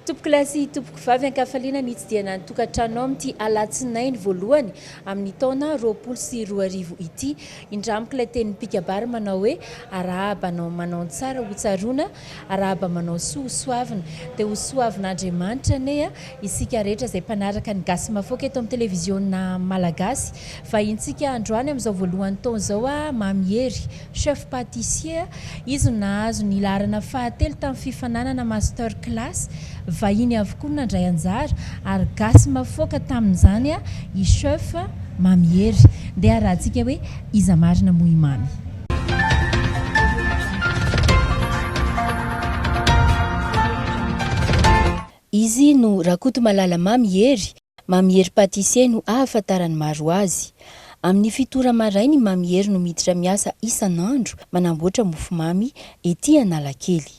Tompokolahy sy tompokovavy an-kafaliana nitsidihana ny tokantranonao amin'ity alatsinainy voalohany amin'ny taona roapolo sy roa arivo ity. Indramiko ilay tenin'ny mpikabary manao hoe, arahaba anao manao ny tsara hotsaroana Arahaba manao soa ho soavina dia ho soavin'Andriamanitra anie a isika rehetra izay mpanaraka ny gasy mafoaka eto amin'ny televiziona malagasy vahintsika androany amin'izao voalohany taona izao a Mamy Hery chef patissier a izy no nahazo ny laharana fahatelo tamin'ny fifananana master class vahiny avokoa no nandray anjara ary gasy mafoaka tamin'izany a i chef Mamy Hery ndeha harahantsika hoe iza marina moa i Mamy Izy no Rakotomalala Mamy Hery, Mamy Hery Pâtissier no ahafantaran'ny maro azy. Amin'ny fito ora maraina i Mamy Hery no miditra miasa isan'andro manamboatra mofomamy ety Analakely.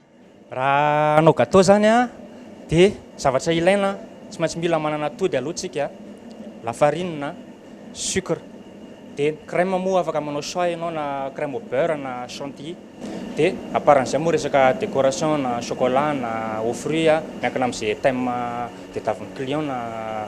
Raha hanao gateau zany dia zavatra ilaina tsy maintsy mila manana atody aloha tsika, la farine, sucre, dia ny crème moa afaka manao choix ianao na crème au beurre na chantilly, dia à part an'izay moa resaka décoration na chocolat na aux fruits miankina amin'izay thème tadiavin'ny client na.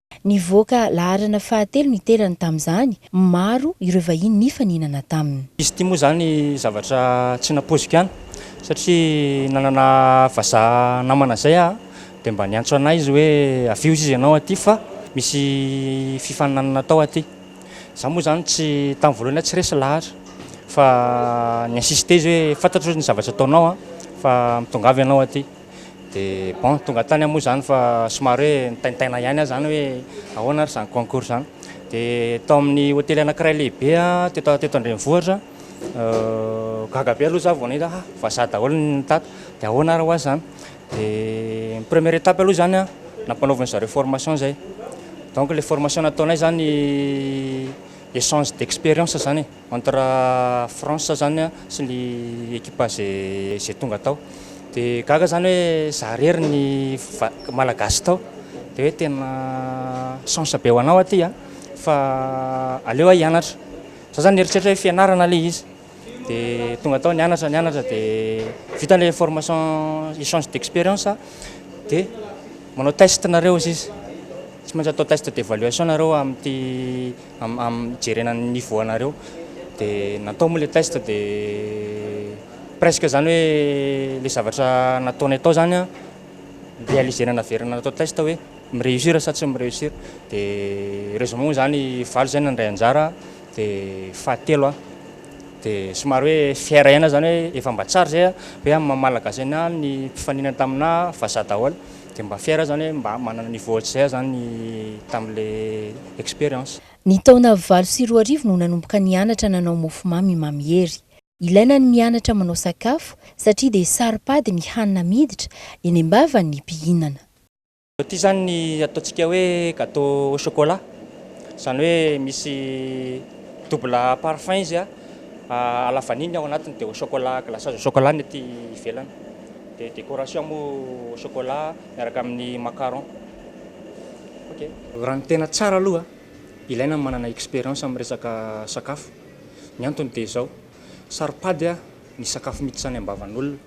Nivoaka laharana fahatelo ny terany tamin'izany, maro ireo vahiny nifaninana taminy. Izy ity moa izany zavatra tsy nampoiziko ihany satria nanana vazaha namana izay aho dia mba niantso an'ahy izy hoe avio izy ianao aty fa misy fifaninanana atao aty. Izaho moa izany tsy tamin'ny voalohany aho tsy resy lahatra fa ni-insister izy hoe fantatro ny zavatra ataonao fa mitongava ianao aty. Dia bon, tonga tany aho moa izany fa somary hoe nitaintaina ihany aho izany hoe ahoana ary izany concours izany. Dia tao amin'ny hotely anankiray lehibe teto teto an-drenivohitra, gaga be aloha izaho vao nahita ah vazaha daholo ny tato, dia ahoana ary ho azy izany. Dia ny première étape aloha izany an, nampanaovin-dry zareo formation izay. Donc ilay formation nataonay izany échange d'expérience izany e. Entre France zany a sy ny ekipa ze ze tonga tao de gaga zany hoe za rery ny va- malagasy tao de hoe tena chance be ho anao aty a fa aleo ah hianatra za zany nieritreritra hoe fianarana le izy de tonga tao nianatra nianatra de vita le formation echange d'experience a de manao test nareo ozizy tsy maintsy atao test d'evaluation nareo amty amin'ny hijerena ny niveau anareo de natao moa le test de presque zany hoe le zavatra nataonay tao zany an realiser-na naverina natao test hoe mi reussir sa tsy mi reussir de heureusement moa zany valo zay nandray anjara de fahatelo aho de somary hoe fier ihany aho zany hoe efa mba tsara zay an hoe amin'ny maha malagasy an'ahy ny mpifaninana tamin'ahy vazaha daholo Dia mba fier aho izany hoe mba manana niveau ohatr'izay aho izany tamin'ilay expérience. Ny taona valo sy roa arivo no nanomboka nianatra nanao mofomamy i Mamy Hery. Ilaina ny mianatra manao sakafo satria dia saro-pady ny hanina miditra eny am-bavan'ny mpihinana. Ity izany ny ataontsika hoe gateau au chocolat. Izany hoe misy double parfum izy, à la vanille ny ao anatiny dia au chocolat, glaçage au chocolat ny aty ivelany. Dia décoration moa au chocolat miaraka amin'ny macaron. Ok. Raha ny tena tsara aloha, ilaina ny manana expérience amin'ny resaka sakafo. Ny antony dia izao, saro-pady ny sakafo miditra any am-bavan'olona.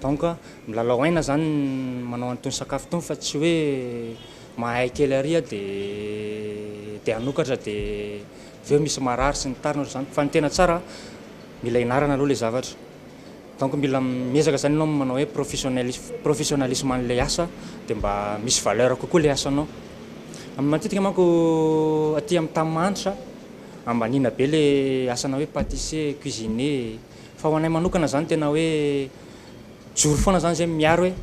Donc, milalao aina izany ny manao an'itony sakafo itony fa tsy hoe mahay kely ary dia hanokatra dia avy eo misy marary sy ny tariny ohatr'izany. Fa ny tena tsara, mila ianarana aloha ilay zavatra. Donc mila miezaka zany enao manao hoe professionnalisme professionnalisme anle asa de mba misy valeur kokoa le asanao. Am matetika manko aty am tam manitra ambaniana be le asana hoe patissier, cuisinier fa ho anay manokana zany tena hoe mijoro foana zany zay miaro hoe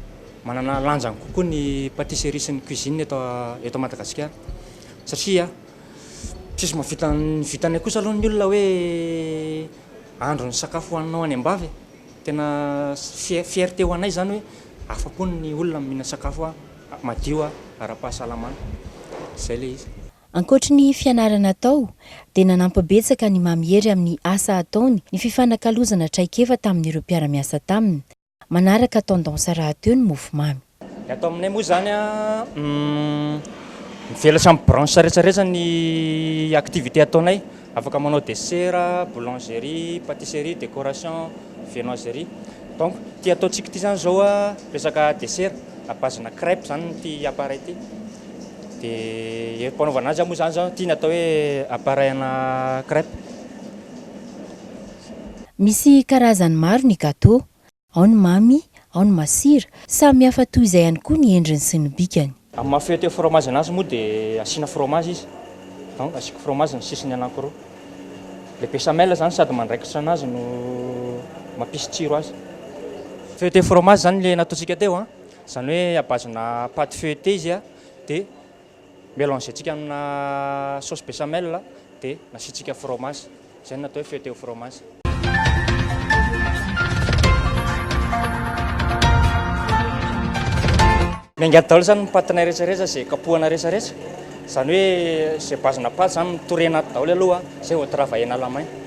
manana lanjany kokoa ny patisserie sy ny cuisine eto eto Madagasikara satria tsisy mahavita ny vitanay kosa aloha ny olona hoe Andro ny sakafo hohaninao any ambavy e! Tena fierté ho anay izany hoe afa-po ny olona mihinana sakafo madio ara-pahasalamana. Izay ilay izy. Ankoatry ny fianarana atao, dia nanampy betsaka an'i Mamy Hery amin'ny asa ataony ny fifanakalozana traikefa tamin'ireo mpiara-miasa taminy. Manaraka tendance rahateo ny mofomamy. Ny ato aminay moa izany mivelatra amin'ny branche rehetrarehetra ny activité ataonay. Afaka manao desera, boulangerie, patisserie, décoration, viennoiserie. Donc ity ataontsika ity izany izao resaka desera à base-na crèpe izany ity appareil ity. Dia am-panaovana azy moa izany izao ity ny atao hoe appareil ana crèpe. Misy karazany maro ny gateau. Ao ny mamy, ao ny masira. Samy hafa toy izay ihany koa ny endriny sy ny bikany. Amin'ny maha feuille de fromage anazy moa dia asiana fromage izy. Donc asiako fromage ny sisiny anankiroa. Ilay béchamel izany sady mandraikitra anazy no mampisy tsiro azy. Feuille de fromage izany ilay nataontsika teo an. Izany hoe à base-na pâte feuilletée izy dia. Melangentsika amina sauce béchamel dia nasiantsika fromage. Izay no natao hoe feuilleté au fromage. Ny angady daholo izany ny patinay rehetrarehetra izay kapohana rehetrarehetra. Izany hoe izay base-na pâte izany no torena ato daholo aloha izay vao travailler-na lamain.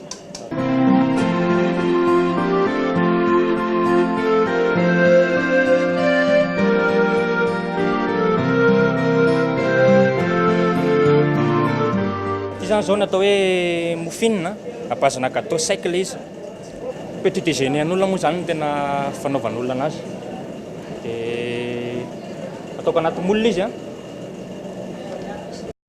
Izany zao natao hoe mofinina, à base na gâteau sec le izy. Petit déjeuner an'olona moa zany no tena fanaovan'olona anazy. Dia ataoko anaty moule izy a.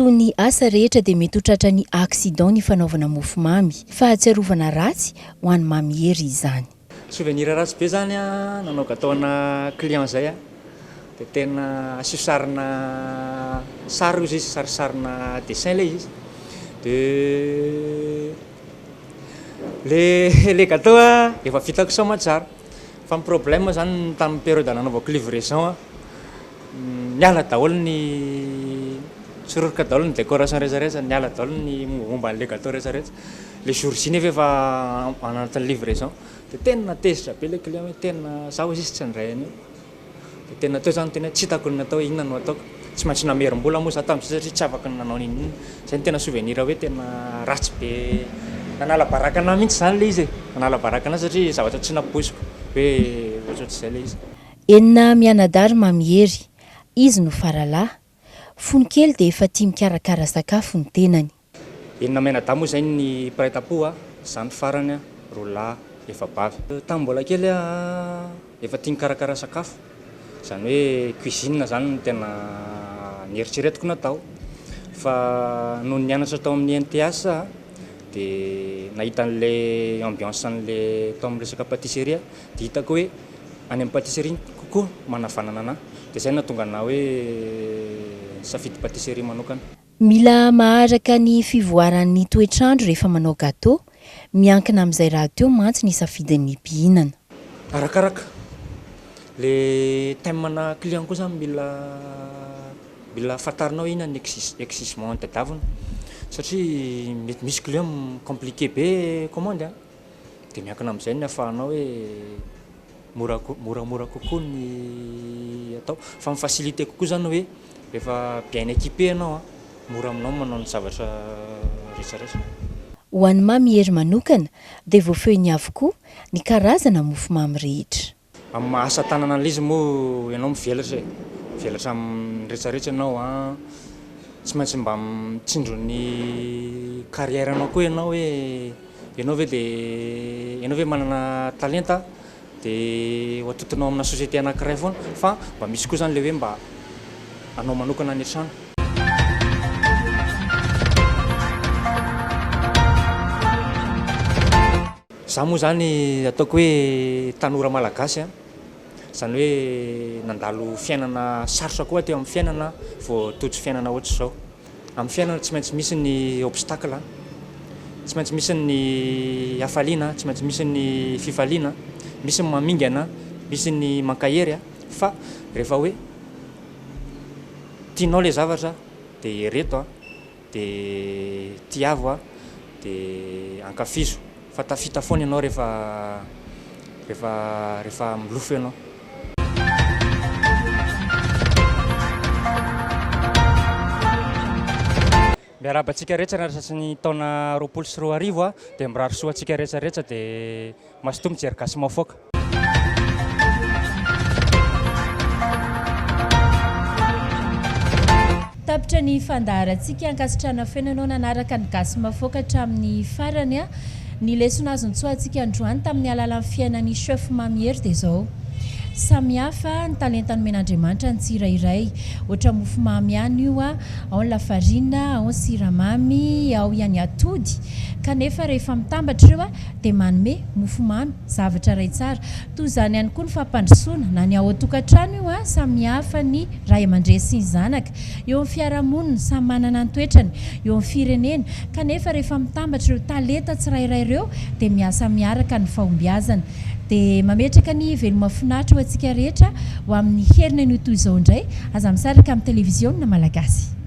Toy ny asa rehetra dia mety ho tratran'ny accident ny fanaovana mofomamy. Fahatsiarovana ratsy ho an'i Mamy Hery izany. Souvenir ratsy be zany a nanao gateau ana client zay a de tena asio sarina sary ozy izy sary sarina dessin le izy de le le gateau a efa vitako soa aman-tsara fa ny problème zany ny tamin'ny periode nanaovako livraison a Niala daholo ny Tsiroroka daholo ny décoration rehetra rehetra, niala daholo ny momba an'ilay gateau rehetra rehetra. Le jour J nefa efa anatin'ny livraison. De tena tezitra be le client hoe tena za oe sisa tsy handray an'io. De tena teo za niteny hoe tsy hitako ny atao hoe inona no ataoko. Tsy maintsy namerim-bola moa za tamin'izay satria tsy afaka ny nanao n'inon'inona. Zay no tena souvenir hoe tena ratsy be, nanala baraka anah mihitsy zany le izy e. Nanala baraka anah satria zavatra tsy nampoiziko hoe ohatrohatr'izay le izy. Enina mianadahy Mamy Hery, izy no faralahy, fony kely dia efa tia mikarakara sakafo ny tenany. Enina mianadahy moa izay ny mpiray tampo a, izaho ny farany, roa lahy, efa bavy. Tamin'ny mbola kely aho efa tia nikarakara sakafo, izany hoe cuisine izany no tena nieritreretiko natao. Fa nony nianatra tao amin'ny INTH aho dia nahita an'ilay ambiance an'ilay tao amin'ny resaka patisserie aho Hitako hoe any amin'ny patisserie no kokoa manavanana anà, dia izay no nahatonga anà hoe nisafidy patisserie manokana. Mila maharaka ny fivoaran'ny toetr'andro rehefa manao gateau, miankina amin'izay rahateo mantsy ny safidin'ny mpihinana. Arakaraka le thème na client koa zany mila mila fantarinao inona ny exige exigement ny tadiaviny satria mety misy client mi compliquer be commande a! Dia miankina amin'izay ny ahafahanao hoe mora ko- moramora kokoa ny atao. Fa mi-faciliter kokoa izany hoe rehefa bien equipé ianao, mora aminao ny manao ny zavatra rehetra rehetra. Ho an'i Mamy Hery manokana dia voafehiny avokoa ny karazana mofomamy rehetra. Amin'ny maha asa tanana an'l'izy moa ianao mivelatra e! Mivelatra amin'ny rehetra rehetra ianao an! Tsy maintsy mba mitsinjo ny carrière anao koa ianao hoe ianao ve dia ianao ve manana talenta dia ho atodinao amina société anankiray foana fa mba misy koa zany le hoe mba anao manokana any an-trano. Za moa zany ataoko hoe tanora malagasy a, zany hoe nandalo fiainana sarotra koa teo amin'ny fiainana vao tojo fiainana ohatry zao. Amin'ny fiainana tsy maintsy misy ny obstacle a, tsy maintsy misy ny hafaliana, tsy maintsy misy ny fifaliana, misy ny mamingana, misy ny mankahery a, fa rehefa hoe tianao le zavatra de ereto a. Dia tiavo aho, dia ankafizo. Fa tafita foana ianao rehefa, rehefa, rehefa milofo ianao. Miarahaba antsika rehetra ny anasan'ny taona roapolo sy roa arivo a, dia mirary soa antsika rehetra rehetra dia. Mazotoa mijery gasy maofoka. Tapitra ny fandaharantsika, ankasitrahana feno ianao nanaraka ny Gasy Mafoaka hatramin'ny farany a! Ny lesona azo nitsoahantsika androany tamin'ny alalan'ny fiainan'i Chef Mamy Hery dia izao, samihafa ny talenta nomen'Andriamanitra ny tsirairay, ohatra mofomamy ihany io a, ao ny lafarina, ao ny siramamy, ao ihany atody, kanefa rehefa mitambatra ireo a! dia manome mofomamy, zavatra iray tsara. Toy izany ihany koa ny fampandrosoana, na ny ao an-tokantrano io, samihafa ny ray aman-dreny sy ny zanaka, eo amin'ny fiarahamonina, samy manana ny toetrany, eo amin'ny firenena, kanefa rehefa mitambatra ireo talenta tsirairay ireo dia miasa miaraka ny fahombiazana. Dia mametraka ny veloma finaritra ho antsika rehetra ho amin'ny herinanio toy izao indray, aza misaraka amin'ny televiziona malagasy.